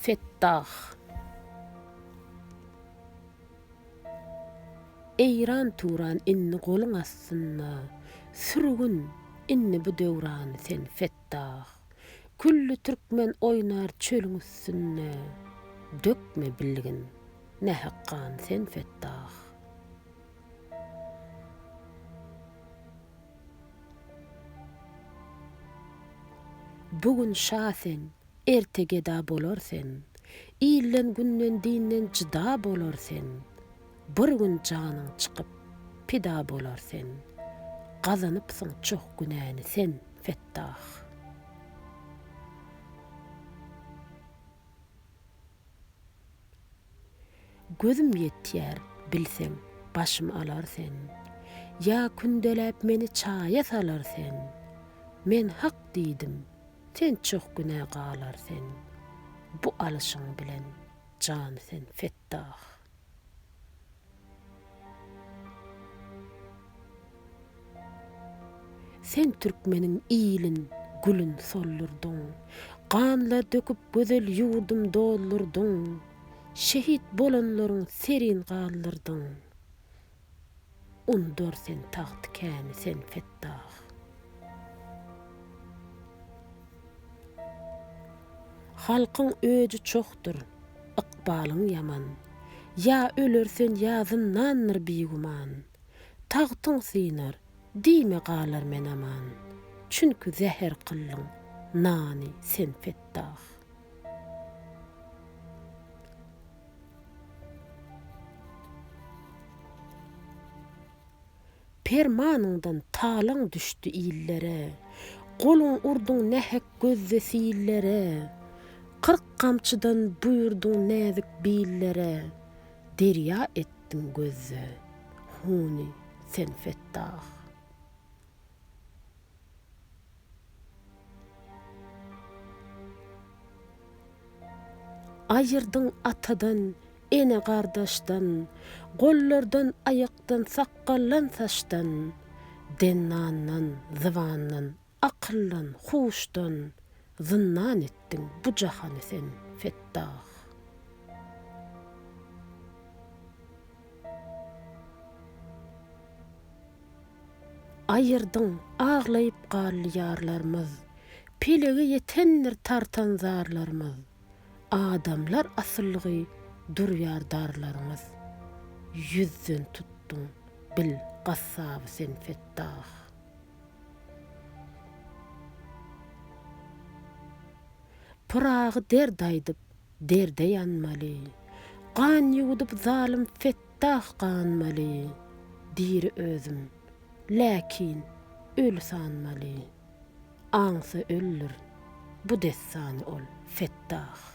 Fettah. Eýran turan indi goluň astynda, Sürgün indi bu döwrany sen Fettah. Külli türkmen oýnar çölüň üstünde, Dökme bilgin, nähak gan sen Fettah. Bu gün şa sen, erte geda bolar sen, Ilden, günden, dinden jyda bolar sen. Bir gün janyň çykyp, pida bolar sen, Gazanypsyň çoh günäni sen, Fettah. Gözüm ýetýär, bilseň, başym alar sen, Ýa kündäläp meni çaýa salar sen. Men hak diýdim, sen çoh günä galar sen, Bu alşyň bilen jan sen Fettah. Sen türkmeniň ilin, gülün soldurdyň, Ganlar döküp gözel ýurdum doldurdyň, Şehit bolanlaryň serin galdyrdyň. Undar sen tagt käni sen Fettah. Halkyň öji çohdyr, ykbalyň ýaman. Ýa ölersen ýa zyndandyr bigüman. Tagtyň synar, diýme galar men aman. Çünki zäher kyldyň nany sen Fettah. Permanyňdan talaň düşdi illere, Goluň urduň nähek gözde sillere, Kyrk gamçydan buýurduň näzik billere, Derýa etdiň gözde huny sen Fettah. Aýyrdyň atadan, ene gardaşdan, Gollardan, aýakdan, sakgaldan, saçdan, Dennandan, zybandan, akyldan, huşdan, Zyndan etdiň bu jahany sen, Fettah. Aýyrdyň, aglaýyp gal ýarlarymyz, Pelege ýetendir tartan zarlarymyz, Adamlar asylgy durýar darlarymyz. Ýüzden tutduň, bil, gassaby sen Fettah. Pyragy derd aýdyp, derde ýanmaly, Gan ýuwudyp zalym Fettah ganmaly, Diri özüm, läkin, öli sanmaly, Aňsa öldir bu dessany ol, Fettah.